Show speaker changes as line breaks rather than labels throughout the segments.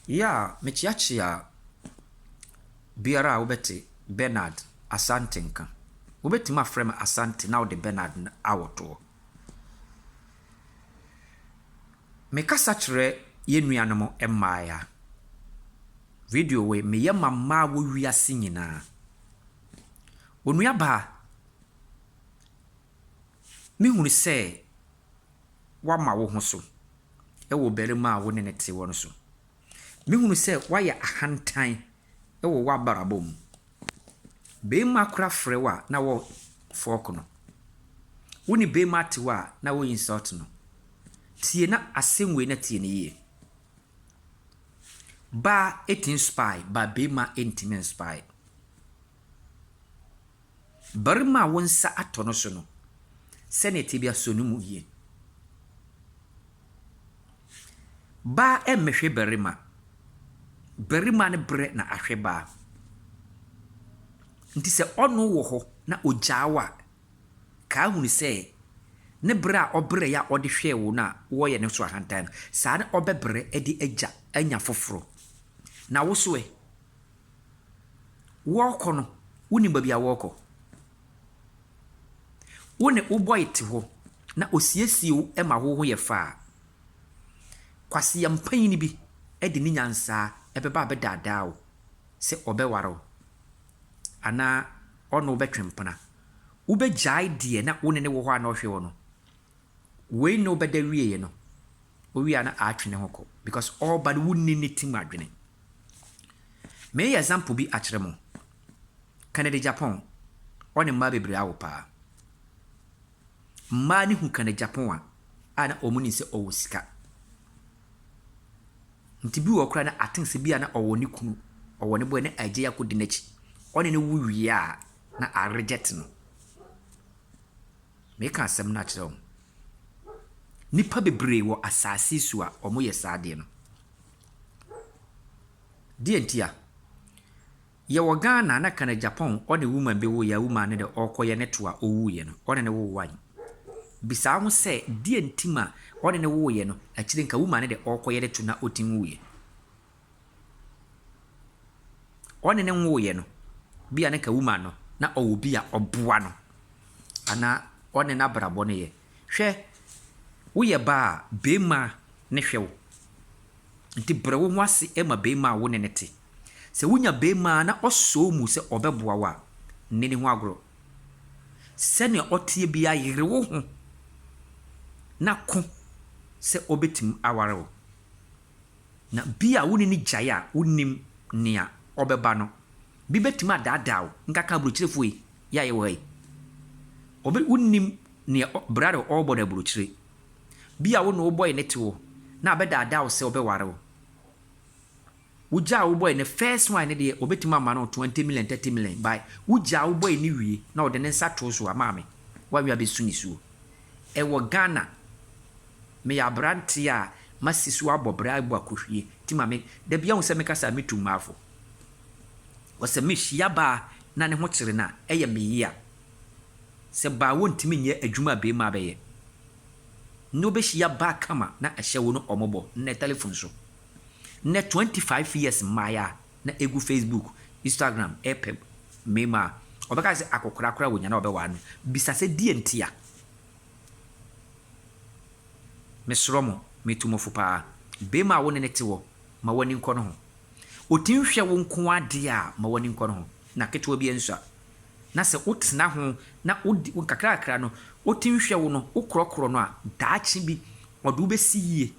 Yeah, mekyeakyea biara a wobɛte Bernard Asante nka. Wobɛtumi afrɛ me Asante na wode Bernard no awɔ toɔ. Mekasa kyerɛ yɛn nuanom mmaeɛ a, video wei meyɛ ma mmaa wɔ wiase nyinaa. Onuabaa, mehunu sɛ. woama wo ho so wɔ ɔbarima a wo ne no te hɔ no so. Mehunu sɛ woayɛ ahantan wɔ w'abrabɔ mu. Barima kora frɛ wo a na wo fork no. Wo ne barima te hɔ a na wo insult no. Tie na asɛm wei na tie no yie. Baa tumi spy but barima ntumi nspy. Barima a wo nsa atɔ no so no, sɛnea tebea sɔ no mu yie. Baa mmɛhwɛ barima, barima no brɛ na ahwɛ baa. Nti sɛ ɔno wɔ hɔ na ɔgyaa wo a, kaa hunu sɛ ne brɛ a ɔbrɛeɛ a ɔde hwɛɛ wo no a wɔreyɛ no so ahantan no, saa na ɔbɛbrɛ de agya anya foforɔ. Na wo so ɛ? Wɔɔkɔ no wonim baabi a wɔɔkɔ. Wo ne wo bɔy te hɔ na osiesie wo ma wo ho yɛ fɛ a, kwaseɛm panyin bi de ne nyansaa ɛbɛba abɛdaadaa wo sɛ ɔbɛware wo anaa ɔne wo bɛtwe mpena. Wobɛgyae deɛ na wo ne no wɔ hɔ a na ɔhwɛ wo no Wei na ɔbɛda wieɛ no, ɔwie a na aatwe ne ho kɔ because ɔɔba no wonni ne ti mu adwene. Meeyɛ example bi akyerɛ mo, Kennedy Japon, ɔne mmaa bebree awo paa. Mmaa no hu Kennedy Japon a, a na wɔn nim sɛ ɔwɔ sika. Nti bi wɔ hɔ koraa na I think sɛ bi a na ɔwɔ ne kunu, ɔwɔ ne boy na agya yi akɔdi n'akyi. Ɔne no wo wie a, na a reject no. Meka asɛm no akyerɛ wɔn. Nnipa bebree wɔ asase so a wɔyɛ saa adeɛ no. Deɛ nti a, yɛwɔ Ghana na Canada, Japan, ɔne woman bi woeɛ a woman no deɛ ɔrekɔyɛ ne to a ɔwuiɛ no, ɔne no woo one. Bisaa ho sɛ deɛ nti ma ɔne no wooeɛ no, akyire nka woman no deɛ ɔrekɔyɛ ne to na ɔtim wuiɛ. ɔne no nwoeɛ no, bi a na anka woman no, na ɔwɔ obi a ɔboa no anaa ɔne no abrabɔ no yɛ. Hwɛ, woyɛ baa a, barima ne hwɛ wo. Nti brɛ wo ho ase ma barima a wo ne no te. Sɛ wonya barima a na ɔsɔ wo mu sɛ ɔbɛboa wo a, nni ne ho agorɔ. Sɛdeɛ ɔteɛ biara yere wo ho na ko sɛ ɔbɛtumi aware wo. Na bi a wo ne no gyae a wunnim nea ɔbɛba no, bi betumi adaadaa wo. Nkaka aburokyirefo yi, yɛ a yɛwɔ ha yi, obi wunnim nea bra a ɔrebɔ no aburokyire. Bi a wo ne wo bɔe no te hɔ na abɛdaadaa wo sɛ ɔbɛware wo. Wogyaa wo bɔe no, first one no deɛ obetumi ama no twenty million, thirty million, but wogyaa wo bɔe no wie na ɔde ne nsa too so a, maame, w'awe abɛsu nisuo. Ɛwɔ Ghana. Meyɛ aberanteɛ a masi so abɔ bra abu akohwie nti ma me da biara hu sɛ me kasa a metu mmaa fo. Wɔ sɛ me hyia baa na ne ho kyere no a ɛyɛ me yea. Sɛ baa wɔ ntumi nyɛ adwuma a beema bɛyɛ. Nnɛ wo bɛ hyia baa kama na ɛhyɛ wo no ɔmɔbɔ nnɛ telephone so. Nnɛ 25 years mmaayɛ a. na egu Facebook, Instagram repɛ mmarima a, ɔbɛka sɛ akɔkora koraa wonya na ɔbɛware no. Bisa sɛ deɛn ntia? Mesrɔ mo, metu mo fo paa. Barima a wo ne no te hɔ, ma w'ani nkɔ ne ho. Ɔtumi hwɛ wo nko ara deɛ a, ma w'ani nkɔ ne ho. Na ketewa biara nsua. Na sɛ wotena ho na wodi wo nkakrankakra no, otim hwɛ wo no, wokorɔkorɔ no a, daakye bi ɔde wo besi yie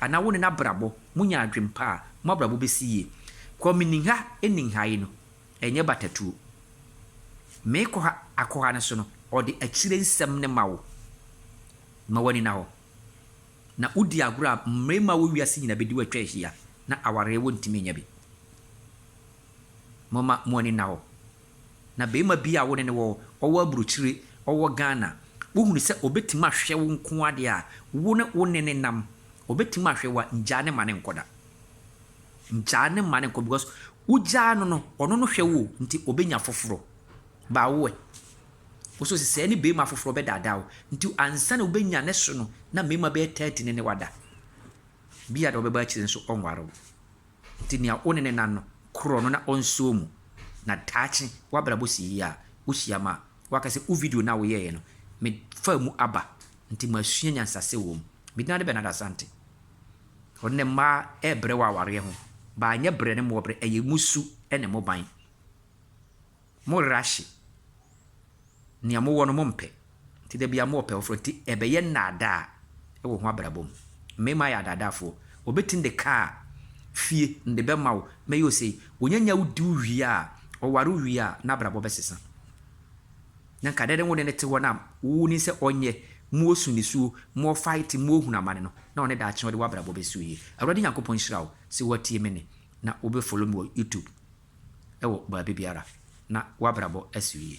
anaa wo ne no abrabɔ, monya adwene pa a, mo abrabɔ besi yie. Kwame Ningha Ningha yi no, ɛnyɛ batatuo. Meekɔ ha akɔ ha no so no, ɔde akyire nsɛm no ma wo ma woanina hɔ. Na wodi agorɔ a, mmarima wɔ wiase nyinaa bɛdi wo atwa ahyia na awareɛ wontumi nyɛ bi. Momma mo ani nna hɔ. Na barima bi a wo ne no wɔ, ɔwɔ aburokyire, ɔwɔ Ghana, wohunu sɛ ɔbɛtumi ahwɛ wo nko ara deɛ a, wo ne wo ne no nam, ɔbɛtumi ahwɛ wo a, ngyaa no mma no nkɔ da. Ngyaa no mma no nkɔ because wogyaa no no, ɔno no hwɛ wo o, nti ɔbɛnya foforɔ. But wo ɛ? Wo nso sesɛɛ ne barima foforɔ bɛdaadaa wo. Nti ansa na wobɛnya ne so no, na mmarima bɛyɛ 30 ne ne wada. Bi a deɛ ɔbɛba akyire nso, ɔnware wo. Enti nea wo ne no nna no, korɔ no na ɔnsɔ mu, na daakye w'abrabɔ si yie a, wohyiam a, waka sɛ, Wo video no a woyɛeɛ no, mefaa mu aba, enti masua nyansahyɛ wom. Me din ade Bernard Asante. Ɔnnɛ, mmaa rebrɛ wɔ awareɛ ho, but anyɛ brɛ ne mmɔɔbrɛ, ɛyɛ mo su ne mo ban. Mo rehye nea mowɔ no mompɛ, nti da biara mowɔ pɛ foforɔ, nti ɛbɛyɛ nnaadaa wɔ ho abrabɔ mu. Mmarima yɛ adaadaafoɔ, wɔbɛtumi de kaa, fie, de bɛma wo, mɛyɛ wo sei. Ɔnyanya wo di wo wie a, ɔware wo wie a, n'abrabɔ bɛsesa. Na nka dɛn ne wo ne no te hɔ no a wonim sɛ ɔnyɛ, mosu nisuo, mofight, mohunu amane no, na ɔne daakye ɔde w'abrabɔ bɛsi wo yie. Awurade Nyankopɔn nhyira wo sɛ woatie me nne na wobɛ follow me wɔ YouTube. wɔ baabi biara na w'abrabɔ asi yie.